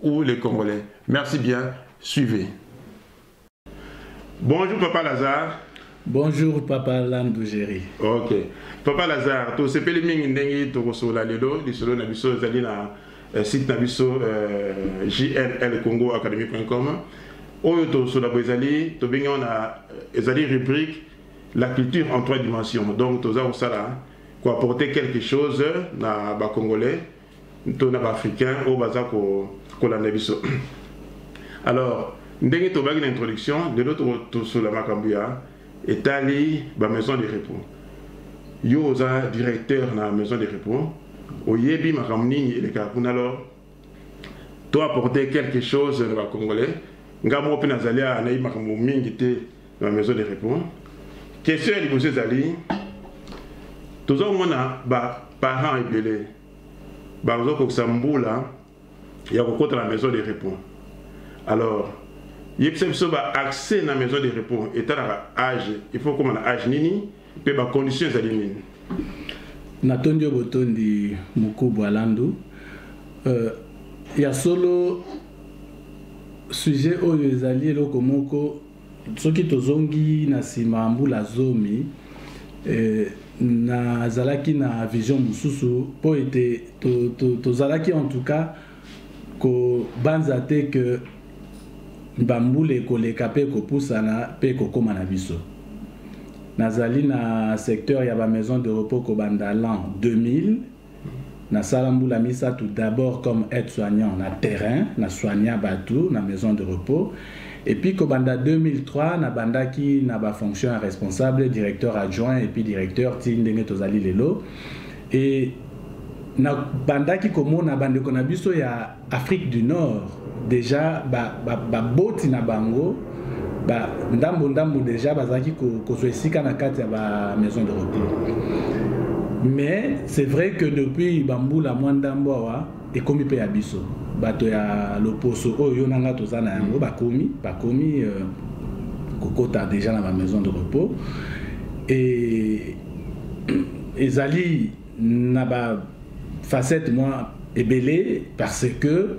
ou les Congolais. Merci bien, suivez. Bonjour Papa Lazare. Bonjour Papa Landugeri. Ok. Papa Lazare, tu sais pele mingi ndengi toko sola lelo, lisolo na biso ezali na eh, site na biso euh, jnlcongoacademy.com. Oyo to sola bo ezali, to bengi na eh, ezali rubrique la culture en trois dimensions. Donc toza ko sala ko apporter quelque chose na ba Congolais to na baafricain oyo baza kolanda biso alors ndenge tobaki na introduction lelo tosola makambo ya etali bamaison de repos yo oza directeur na maison de repos oyebi makambo nini elekaka kuna alors to apporter quelque chose na bacongolais ngai moko mpe nazali awa nayebi makambo mingi te na maison de repos question ya liboso ezali toza komona baparent ebele baza kokisa mbula ya kokota na maison de repos alors yebisa biso baaccès na maison de repos etalaka age il faut koma na age nini mpe bacondition ezali nini natondi yo botondi mokubu alandu euh, ya solo sujet oyo ezali eloko moko soki tozongi na nsima mbula zomi eh, nazalaki na vision mosusu mpo ete tozalaki to, to en tout cas kobanza te ke bambula ekoleka mpe ekopusana mpe ekokóma na biso nazali na secteur ya bamaison de repos kobanda l'an 2000 nasala mbula misato d'abord comme aide soignant na terrain na soigna bato na maison de repos epuis kobanda 2003 nabandaki na bafonction ya responsable directeur adjoint epuis directeur ti ndenge tozali lelo e nabandaki komona bandeko na biso ya Afrique du Nord deja baboti ba, ba na bango ba, ndambo ndambo deja bazalaki kozwa esika na kati ya ba maison de repos mais c'est vrai que depuis bambula mwa ndambo awa ekomi mpe ya biso bato ya loposo oyo yo na ngai toza na yango bakomi bakomi euh, kokota deja na ba maison de repos e ezali na ba facette mwa ebele parce que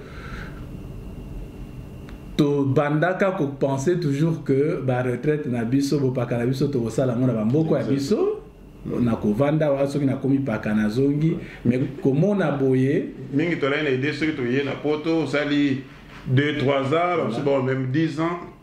tobandaka kopense toujours que baretraite na biso bopaka na biso tokosala yango na bamboko ya biso na kovanda wa soki nakomi paka nazongi me komona boye mingi tolai na ide soki toye na poto osali 2 3 ans bamosusu bao meme 10 ans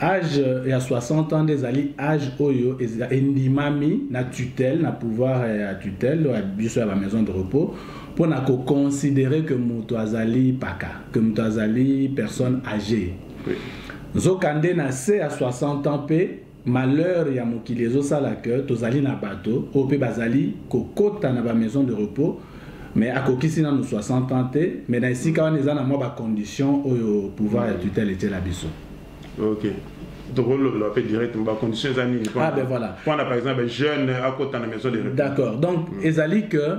age ya 60 ans nde ezali age oyo endimami na tutelle na pouvoir ya tutelle ya biso ya ba maison de repos mpo na koconsidere ke moto azali paka ke moto azali personne age nzokande na se ya 60 ans mpe malheur ya mokili ezosala ke tozali na bato oyo mpe bazali kokota na ba maison de repos mais akokisi nanu 60 ans te mais na esika wana eza na mwa bacondition oyo pouvoir ya tutelle etyela biso ok tokolobela mpe direct bacondition eza nini ah, ben voilà. mpona par exemple jeune akota na maison de repos d'accord donc mm. ezali que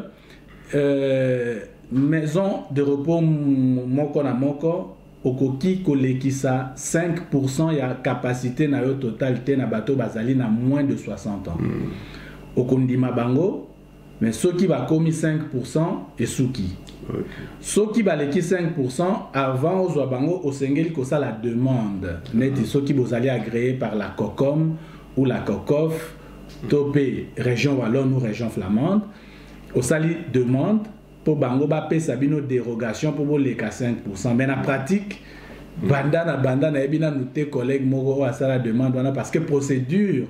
euh, maison de repos moko na moko okoki kolekisa 5 ya capacité na yo total te na bato bazali na moins de 60 ans mm. okondima bango mais soki bakomi 5 pourcent esuki soki baleki 5 pourcent avant ozwa bango osengeli kosala demande neti soki bozali agréé par la cocom ou la cocof to mpe région wallone ou région flamande osali demande mpo bango bapesa bino dérogation mpo boleka 5 pourcent mais na pratique banda na banda nayebi nanu te collègue moko oyo asala demande wana parce que procédure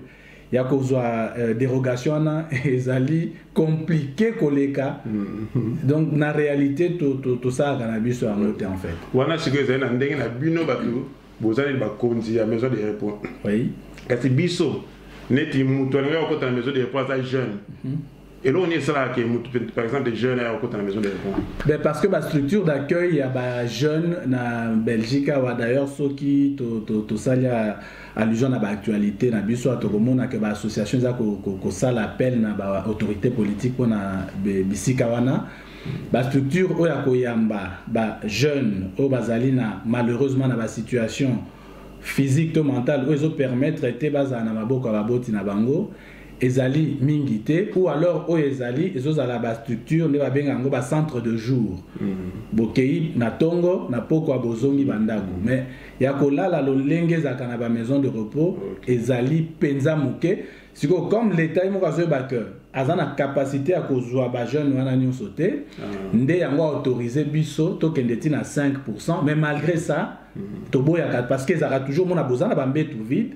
ya kozwa euh, derogation wana ezali compliqué koleka mm-hmm. donc na réalité tosalaka na biso yango te en fait wana sikoyo ezali na ndenge na bino bato bozali bakonzi ya maison de repos oui. kasi biso neti moto alingi kokota na maison de repos aza jeune mm -hmm. eloko nini esalaka ke motu par exemple des jeunes aya kokota na maison de repos ben parce que bastructure d'accueil ya bajeune na belgique awa d'ailleurs soki tosali to, to allusion na baactualité na biso tokomona ke baassociation eza kosala ko, ko appel na baautorité politique mpona bisika wana bastructure oyo ya koyamba bajeune oyo bazali na malheureusement na basituation physique to mentale oyo ezopermettre te bazala na maboko ya baboti na bango ezali mingi te ou alors oyo ezali ezozala bastructure nde babenga yango bacentre de jour mm. bokei na ntongo na pokwa bozongi bandako mm. mais ya kolala lolenge ezalaka na bamaison de repos okay. ezali mpenza moke sikoyo comme leta ye moko azoyeba ke aza na kapasité ya kozwa bajeune wana nyonso te ah. nde yango autorise biso tokende ti na 5 mais malgré ça mm. toboyaka parce que ezalaka toujours mona boza na bambetu vide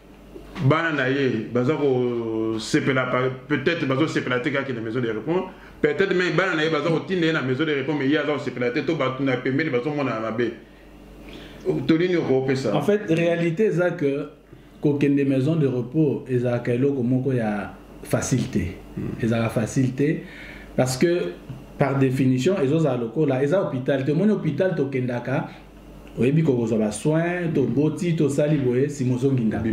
bana na ye baza kosepela peut-être bazosepela te kaka na maison de repos peut-être mai bana na ye baza kotinda ye na maison de repos mai ye aza kosepela te to bato na pembeni bazomona na mabe tolini okopesa en fait réalité eza que kokende maison de repos ezalaka eloko moko ya facile te hmm. ezalaka facile te parce que par définition ezozala lokola eza hôpital te omoni hôpital tokendaka oyebi kokozwa basoin toboti tosali boye sima ozongi ndako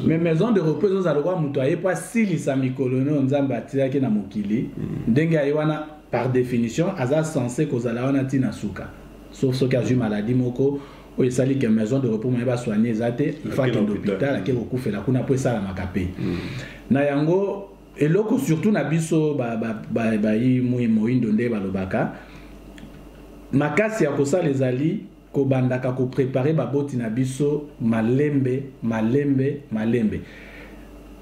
mais maison de repos ezozala lokola moto aye mpo asilisa mikolo no nzambe atilaki na mokili mm. ndenge aye wana par définition aza censé kozala wana ntina suka sauf soki azwi maladie moko oyo esali ke maison de repos moye basoigne eza te ifakende hôpital ake kokufela kuna mpo esalamaka mpe mm. na yango eloko surtout na biso bayi ba, ba, ba, mui moindo nde balobaka makasi ya kosala ezali kobandaka koprepare baboti na biso malembe malembe malembe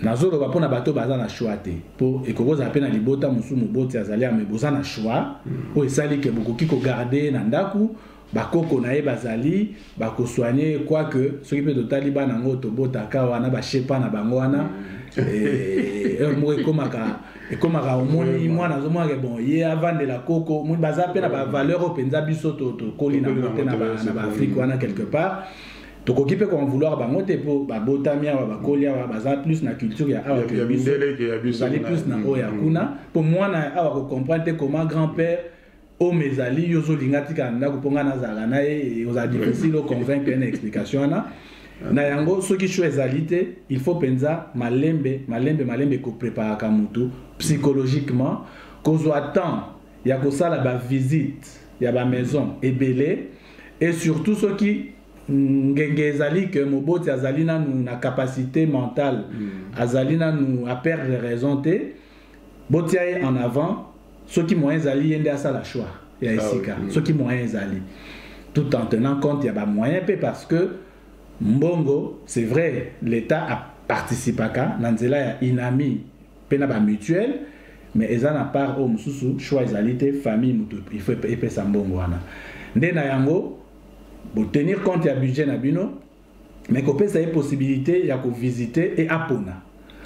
nazoloba mpo na bato baza na choix te mpo ekoki kozala mpe na libota mosusu moboti azali ame boza na choix mm. oyo esali ke bokoki kogarde na ndako bakoko na ye bazali bakosuanie ye quoique soki mpe totali bana yango tobotaka wana bashepa na bango wana heure moko ekomaka ekomaka omoni mwana azomonake bon ye avandela koko omoni baza mpe na bavaleur oyo mpenza biso tokoli na yango te na baafrike wana quelque part tokoki mpe koenvouloir bango te mpo babotami awa bakoli awa baza plus na culture ya awa tozali plus na oyo ya mm. kuna mpo mwana ya awa kocomprendre te comment grand père homme ezali yo ozolinga atika na ndako mpo ngai nazalaka na ye ozala difficile oconvaincre ye na explication wana na yango soki choix ezali te il faut mpenza malembe malembe malembe kopreparaka motu psychologiquement kozwa temps ya kosala bavisite ya bamaison ebele et surtout soki ngenge ezali ke moboti azali nanu na capacité mentale mm. azali nanu aperdre raison te botia ye en avant soki moyen ezali ye nde asala choix ya ah esika mm. soki moyen ezali tout en tenant compte ya bamoyen mpe parce que mbongo c'est vrai l'état aparticipaka na nzela ya inami mpe na bamutuelle mais eza na part oyo mosusu choix ezali te famille moto il faut epesa mbongo wana nde na yango botenir compte ya budget na bino mais kopesa ye possibilité ya kovisite e apona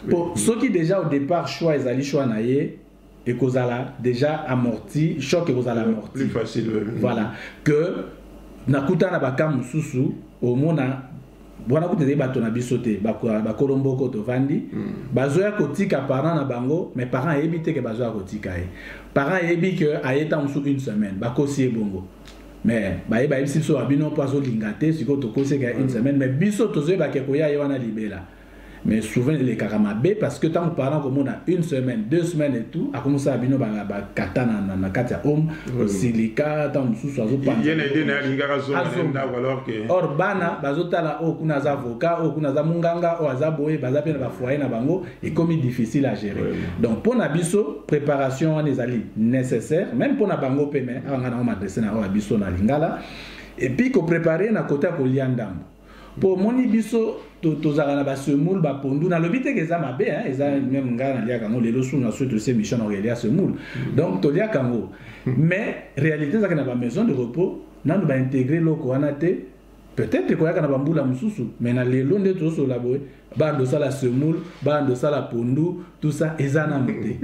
mpo soki déjà au départ choix ezali choix na ye ekozala déjà amorti choc ekozala amorti plus facile voilà que nakuta na baka mosusu omona wana kutu ezali bato na biso te bakolo mboko tovandi hmm. bazoya kotika parent na bango mais parent ayebi te ke bazoya kotika ye parent ayebi ke aye ntango mosusu une semaine bakosi ye bongo mais baye bayebisi biso babino mpo azolinga te sikoyo tokoseka une semaine mais biso tozoyeba ke koya ye wana libela mais souvent elekaka mabe parce que ntango parent komona une semaine deux semaines et tout akomisala bino bakata na, na, na kati ya home osilika ntango mosusu azopanzaor bana bazotala oyo oh, kuna aza avocat oyo oh, kuna aza monganga oyo oh, aza boye baza mpe na bafoye na bango ekomi difficile à gérer oui. donc mpo na biso préparation wana ezali nécessaire même mpo na bango mpe me awa ngai nango madresse na oyo biso na lingala epuis koprépare na kota ya kolia ndambo mpo omoni biso tozalaka na basemoule bapondu nalobi teke eza mabe eza meme ngai naliaka yango lelo suna soki tosi émission na kolia semoule donc toliaka yango mais réalité ezalaki na bamaison de repos nanu baintegre eloko wana te peut-être ekoyaka na bambula mosusu mais na lelo nde tozosolola boye bando osala semoule bando osala pondu tout ça eza nano te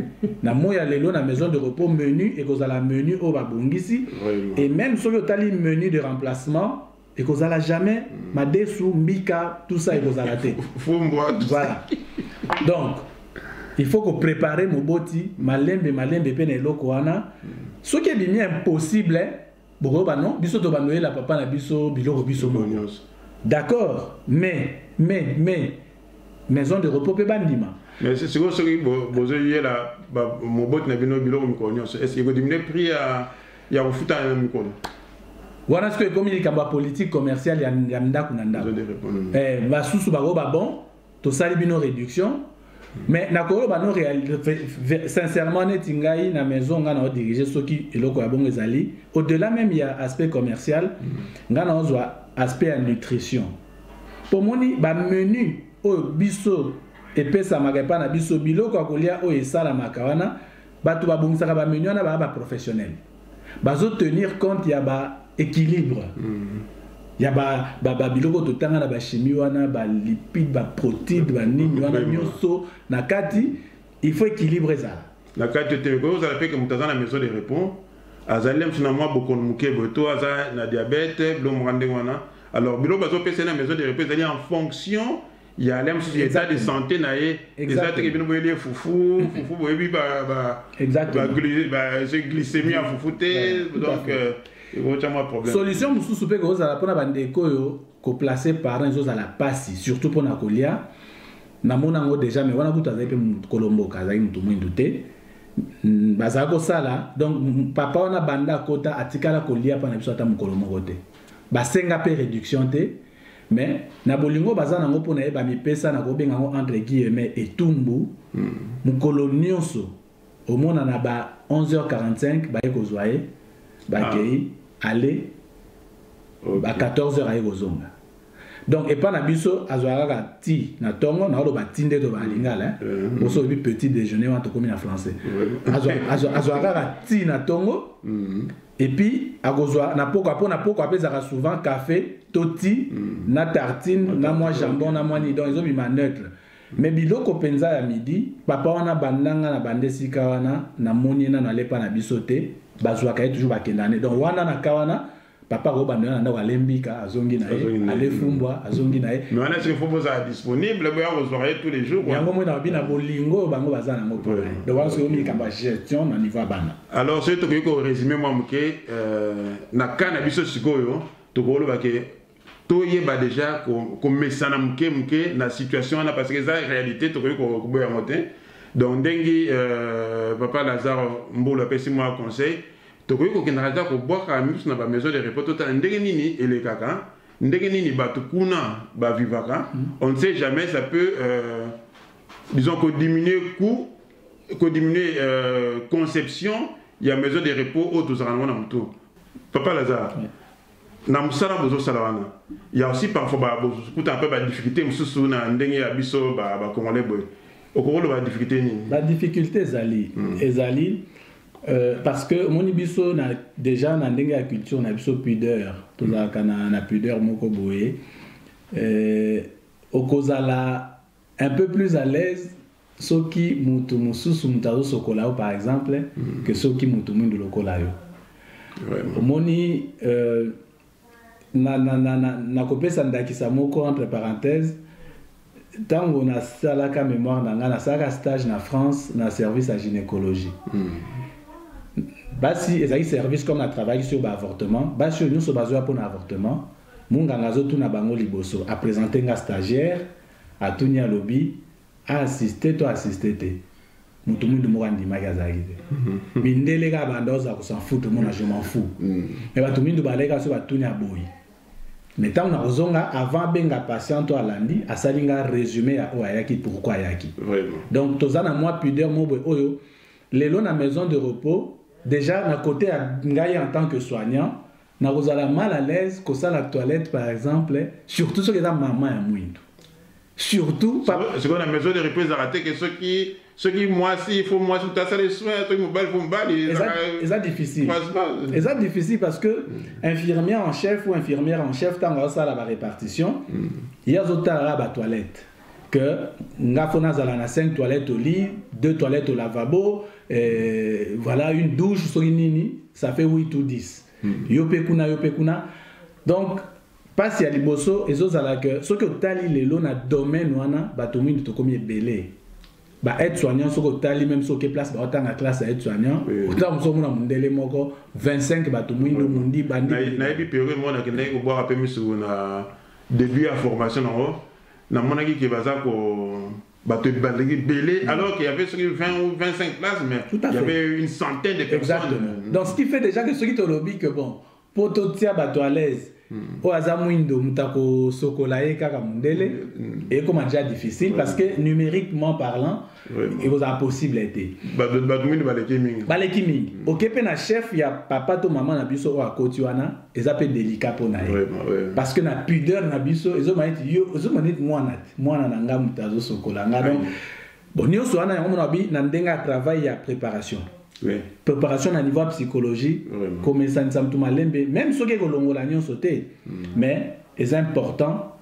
na moi ya lelo na maison de repos menu ekozala menu oyo babongisi et même soki otali menu de remplacement ekozala jamais mm. madesu mbika tout ça ekozala te voilà donc il faut koprépare moboti malembe malembe mpe na eloko wana mm. soki ebimi impossible bokoyoba non biso tobanoyela papa na biso biloko biso moko d'accord mais mais mais maison de repos mpe bandima mais sikoyo soki bozoyela moboti na bino biloko mikolo nyonso est ce ekodimine prix ya kofuta na mikolo wana sikoyo ekomi likambo ya politique commerciale ya ndako na ndako eh, basusu bakoyo babon tosali bino réduction mais nakoloba no sincèrement neti ngai na maison ngai na odirige soki eloko ya bongo ezali au delà même ya aspect commercial mm. ngai na ozwa aspect ya nutrition mpo moni bamenu oyo biso epesamaka epai na biso biloko ya kolia oyo esalamaka wana bato babongisaka bamenu wana baa baprofessionnel bazotenir compte ya baéquilibre mm. ya babiloko ba, ba totanga na bachimie wana balipide baprotide banini wana nyonso na kati il faut équilibre ezala na kati te ekoki kozala mpe ke moto aza na maison de repos azali na mosu na mwa bokono moke boye to aza na diabete bilo moka ndenge wana alors biloko bazopesa ye na maison de repos ezali en fonction ya ale mosusu eza de santé na ye eza teke bino boyeli ye fufu mm-hmm. fufu boyebi glycémie ya fufu te donc euh, ekotya mwa problème solution mosusu mpe kozala mpona bandeko oyo koplace parent ezozala mpasi surtout mpona kolia namona yango déjà mais wana kutu azali mpe mokolo mboka azali motu mwindu te mm, bazala kosala donc mm, papa wana banda akota atikala kolia mpo na biso ata mokolo moko te basenga mpe réduction te mais na bolingo baza nango mpo na ye bamipesa na kobenga yango entre guillemets etumbu mm. mokolo nyonso omona na ba 11h45 baye kozwa ye bakei ah. ale okay. ba 14h aye kozonga donc epa na biso azwaka kaka ti na ntongo naoloba ti nde toloba na lingala mm. oso oyebi petit déjeuner wana tokomi na français azwaka kaka ti na ntongo mm. et puis akozwa na pokwa mpo na pokwa mpe ezalaka souvent café to ti mm. na tartine mm. na mwa jambon na mwa nini donc ezobima neutre mm. mais biloko mpenza ya midi papa wana bandanga na bande esika wana namoni ye nano alepa na biso te bazwaka ye toujours bakendana ne donc wana na ka wana papa ko banda na ndako alembika azongi na ye alefumbwa azongi na ye mais wana soki fombo ozala disponible boya kozwaka ye tous les jours yango moi na babi na bolingo bango baza nango mpo na ye donc wana soki omi likambo ya gestion na niveau ya bana alors soki tokoki koresume mwa moke euh, na ka na biso sikoyo tokoloba ke toyeba deja komesana moke moke na situation wana parce que eza réalité tokoki koboya yango te donc ndenge euh, papa lazare mbulu apesi mwa conseil tokoki kokendaka kaka kobwaka miso na bamaison de repos totala ndenge nini elekaka ndenge nini bato kuna bavivaka mm. on ne sait jamais ça peut euh, disons kodiminuer coût ko diminuer euh, conception ya maison de repos oyo tozalaka nango na motu papa lazare na mosala bozosala wana ya aussi parfois bokutana mpe badifficulté mosusu na ndenge ya biso bacongolais boye okoki oloba badifficulté nini badifficulté ezali hmm. ezali Euh, parce que omoni biso na, déjà na ndenge ya culture na biso pudeur tozalaka na, na pudeur moko boye euh, okozala un peu plus à l'aise soki mutu mususu mutu azosokola yo par exemple mm. que soki mutu mwindu lokola yo omoni euh, na, na, na, na, na kopesa ndakisa moko entre parenthèse ntango nasalaka mémoire na ngai nasalaka stage na france na service ya gynécologie mm. basi ezali service comme atravaillaki sur baavortement basi oyo nyonso bazoya mpo na avortement monganga azotuna bango liboso apresente nga stagiaire atuni alobi A assister to assister te. Mutu mutu moko andimaki azalaki te. Mindele kaka banda oza ko s'en foutre mona je m'en fous. Mm. Mais batu mindu balaki aso batuni aboyi. Mais tango na kozonga avant benga patient to alandi asali nga résumé ya oyo ayaki pourquoi ayaki. Vraiment. Donc toza na mwa pudeur mobwe oyo lelo na maison de repos déjà na côté ya ngai en tant que soignant Nakozala mal à l'aise kosala toilette par exemple, surtout soki eza mama ya mwindu. Surtout papa. Sikoyo na maison de repos ezalaka te ke soki soki mwasi il faut mwasi moto asala soin soki mobali faut mobali eza difficile eza difficile parce que infirmière en chef ou infirmière en chef ntango azosala ba répartition ye azotalaka ba toilette que nga faut nazala na 5 toilettes au lit, 2 toilettes au lavabo, euh, voilà une douche soki nini, ça fait 8 ou 10. Mm. Yo pe kuna yo pe kuna. Donc pasi ya liboso ezozala que soki otali lelo na domaine wana bato mingi tokomi ebele ba aide soignant soki otali meme soki place baotanga classe ya aide soignant otala mosu omona mondele moko 25 bato mwindo mondi bandi nayebi periode mwana akendaki kobwaka mpe misu na début ya formation nango namonaki ke baza ko bato ebandaki ebele mm. alors qu'il y avait soki 20 ou 25 places mais Tout à il y avait une centaine de personnes Exactement. Mm. donc ce qui fait déjà que soki tolobi que bon mpo totia bato à l'aise mm. oyo aza mwindo moto akosokola ye kaka mondele ekoma déjà difficile parce que numériquement parlant mm. ekozala possible te bato mingi baleki mingi baleki mingi mm. oke mpe na chef ya papa to mama na biso oyo akoti wana eza mpe delicat mpo na ye parce que na pudeur na biso ezomana ete yo ozomana ete mwana te mwana na ngai moto azosokola ngai donc bon nyonso wana yango mona bi na ndenge ya travail ya préparation oui. préparation na niveau ya psychologie komesanisa motu malembe même soki ekolongola nyonso te mm. mais eza important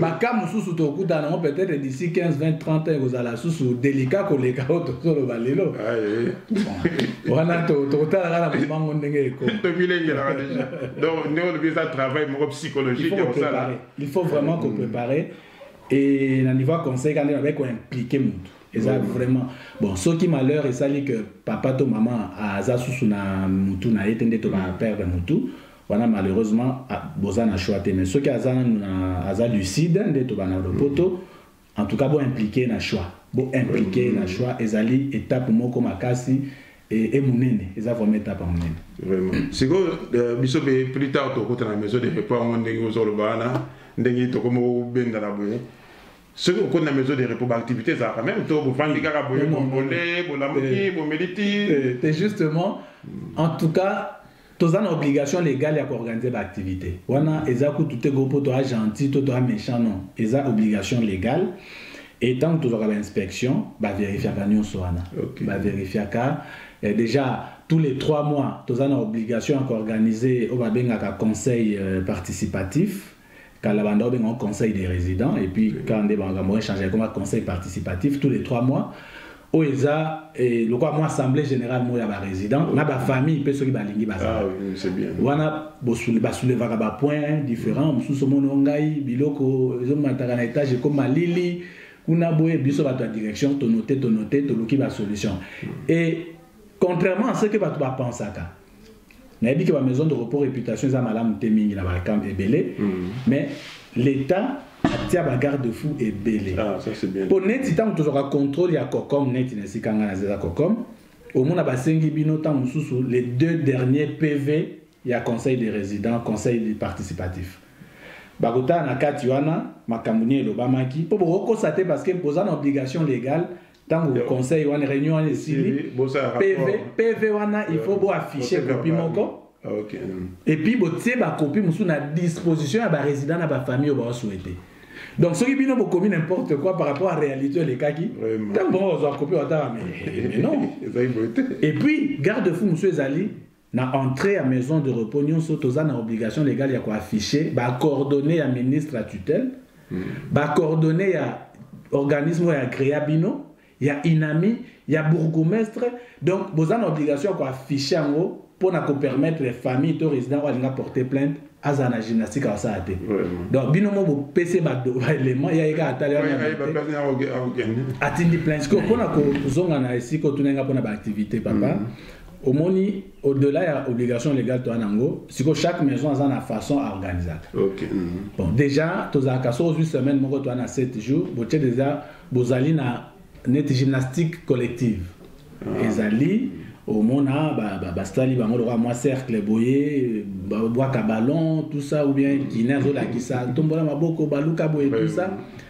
baka mosusu tokutana yango peut-être d'ici 15 20 30 ans ekozala susu delika koleka oyo tozoloba lelo ah, eh. wana tokotalaka na momango ndenge ekomilengelaka deja donc ndenge olobi eza travail moko psychologique ya kosala il faut vraiment koprépare mm. et na niveau ya conseil ka nde nabai koimplike motu eza vraiment bon soki malheur esali que papa to mama aza susu na mutu na ye te nde tobaperdre mutu wana malheureusement ah, boza na choix te mais soki aza nanu na aza lucide nde toba na lopoto en tout cas bo impliquer na choix bo impliquer na choix ezali étape moko makasi et et munene eza vraiment étape munene vraiment sikoyo euh, biso be plus tard tokota na maison de repos yango ndenge ozoloba wana ndenge tokoma kobendana boye soki okoti na maison de repos baactivité ezalaka meme to bofandi kaka boye bombole bolamuki bomeli ti te justement en tout cas toza na obligation legale ya koorganize baaktivite wana eza kutu te go mpo toa gentil to toa méchant non eza obligation legale e ntango tozwaka bainspection baverifiaka nyonso wana okay. baverifiaka eh, déjà tous les trois mois toza na obligation ya koorganize oyo babengaka conseil euh, participatif kala banda obenga ngo conseil des résidents et puis quand nde makambo echange ekoma conseil participatif tous les trois mois oyo eza eh, lokola mwa assemblée générale moko ya barésident na bafamille mpe soki balingi bazala Ah, oui, c'est bien. wana bosule- basoulevaka bapoint différent mosusu omoni o ngai biloko ezomataka na étage ekoma lili kuna boye biso bato ya direction tonote tonote toluki basolution et contrairement à ce que bato bapensaka nayebi ke ba maison de repos réputation eza malamu te mingi na balcam ebele mm. mais l'état atia ba garde fou ebele ah, mpo neti ntango tozwaka contrôle ya cocom neti na esika ngai nazeza cocom omona basengi bino ntango mosusu les deux derniers pv ya conseil des résidents conseil du participatif bakotala na kati wana makambo nini elobamaki mpo bokokosa te parce que boza na obligation légale ntango conseil wana réunion wana esili pv wana il faut boaffiche kopi moko Ah, okay. Mm. et puis botie bakopi mosusu na disposition ya barésident na bafamille oyo baosouete donc soki bino bokomi n'importe quoi par rapport à réalité elekaki ntango bongo kozwa kopi watala mais non et puis garde fou mosusu ezali Na entree ya maison de repos nionso, toza na obligation legale ya ko afficher ba coordonnees ya ministre ya tutelle, ba coordonnees ya organisme oyo agrea bino, ya INAMI, ya bourgoumestre, donc boza na obligation ya ko afficher yango mpo na ko permettre famille to resident oyo alinga porter plainte azala na gymnastique akosala te donc bino mo bopesi baelema ya ye kaka atali atindi plainte sikoyo mpo na kozonga na esika otuna nga mpo na baactivité papa mm -hmm. omoni au delà ya obligation légale toa nango sikoyo chaque maison aza na façon aorganisaka okay. mm -hmm. bon déjà tozalaka so ozwi semaine moko toa na 7 jours botie déjà bozali na neti gymnastique collective ah. ezali mm -hmm. omona basali bango lokola mwa cercle boye babwaka ballon tout ça ou bien guine azolakisa tombola maboko baluka boye tout ça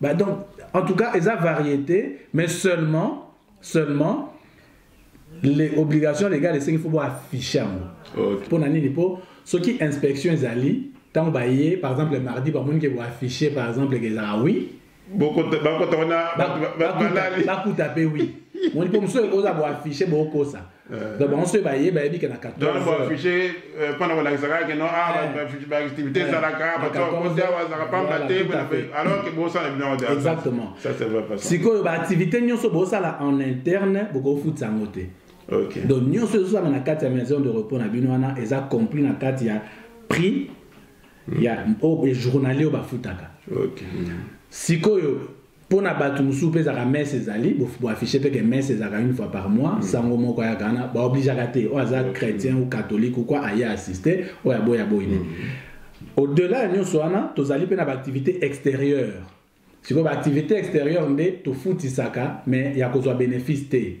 Bah donc, en tout cas, eza variété, mais seulement, seulement, les obligations légales esengi fo boaffiche yango mpo na nini mpo soki inspection ezali ntango baye par exemple mardi bamoni ke boaffiche par exemple ke ezala oui bakuta mpe oui moni mpo mosusu oza boaffiche bokosa Euh, donc bango soki baye bayebi ke na 14 affiche mpona kolakisaka ke no baactivité ezalaka baokosi awa azalaka pamba te alors ke bosala bino yango exactement sikoyo baactivité nyonso bosala en interne bokofutisa yango te okay. donc nyonso ezosala na kati ya maison de repos na bino wana eza compris na kati ya prix ya mm. oyo oh, journalier oyo bafutaka okay. sikoyo mpo na bato mosusu mpe ezalaka messe ezali boaffiche mpe ke messe ezalaka une fois par mois mm. sango moko ayaka wana baobligeaka te oyo aza mm. chrétien ou catholique ou quoi aye assiste oyo aboyi aboyi ne mm. au delà ya nyonso wana tozali mpe na baactivité extérieure sikoyo baactivité extérieure nde tofutisaka mais ya kozwa bénéfice te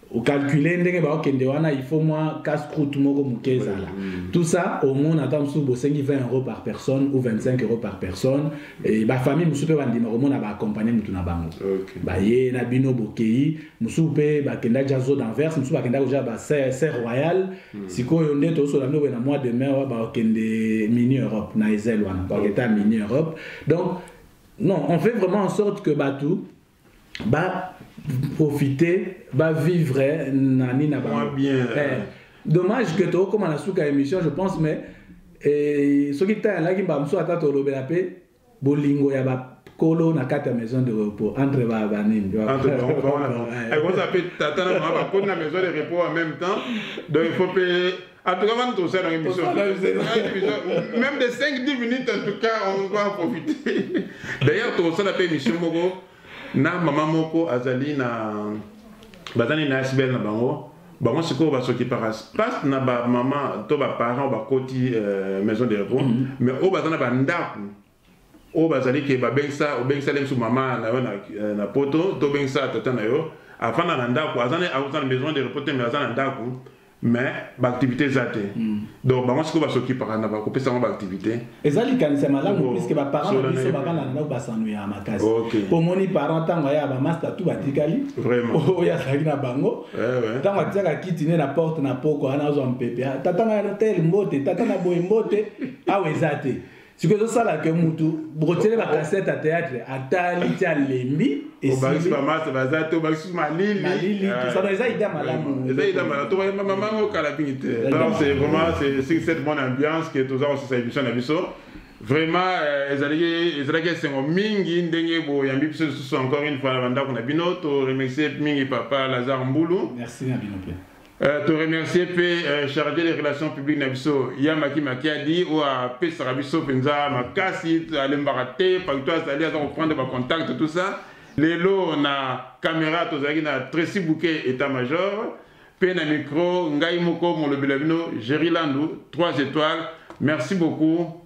okalcule ndenge baokende wana il faut mwa casse croute moko moke ezala tout ça omona ata mosusu bosengi 20 euro par personne ou 25 euro par personne bafamille mosusu mpe bandima komona baakompagne motu na bango baye na bino bokei mosusu mpe bakenda ja zo d'anvers mosusu bakenda koja baser royal hmm. sikoyo nde tozosola bino boye na mois de mai wa bakokende mini europe na ezele wana bakokenda mini europe donc non on fait vraiment en sorte que bato ba profiter ba vivre na nini na bango bien eh, dommage que tokoma na suka émission je pense mais eh, soki ntango alaki mbala mosusu ata tolobela mpe bolingo ya ba kolo na kati ya maison de repos entre ba banini ekozala mpe tata na mama bakoni na maison de repos en même temps donc il faut mpe En tout cas, on tourne ça dans l'émission. Même des 5-10 minutes, en tout cas, on va en profiter. D'ailleurs, tourne ça dans l'émission, Bogo. Na maman moko azali na bazali na SBL na bango bango sikoyo basokipaka place na bamama to baparent bakoti euh, maison de repos mm -hmm. mais oyo baza na bandako oyo bazali ke babengisa obengisa nde biso mama na yo na, eh, na poto tobengisa tata na yo afanda na ndako aza aza na maison de repos te mais aza na ndako mais baactivité eza te hmm. donc bango sikoyo basokipaka na bakopesa yango baactivité eza likanisi ya malamu puiske baparent na biso bavanda na ndako basano ya makasi omoni parent ntango aya bamasta tu batikali oyo azalaki na bango eh, ntango atiaka kiti ne na porte na poko wana azwa mpepe ah, tata na tel mbote tata na boye mbote awa eza te sikoyo ezosala ke mutu bokotyele bacasete ya théâtre atali ti alembi obakisi bamasa baza te obakisi malilimalili ah. tosana eza ida malamu eza ida malamu tobayemba mamango kala mingi te donc c'est vraiment c'est cette bonne ambiance que toza kosisa émission na biso vraiment euh, ezalaki ezalaki esengo mingi ndenge boyambi biso lisusu encore une fois na bandako na bino toremercie mingi papa lazare mbulu merci na bino mpe Euh, to remercier mpe euh, chargé de relation publique na biso ya maki makiadi oyo apesaka biso mpenza makasi alembaka te pakito azali aza koprendre bacontact tout ça lelo na kamera tozalaki na tracy bouquet état major mpe na micro ngai moko molobela bino géri landu 3 étoiles merci beaucoup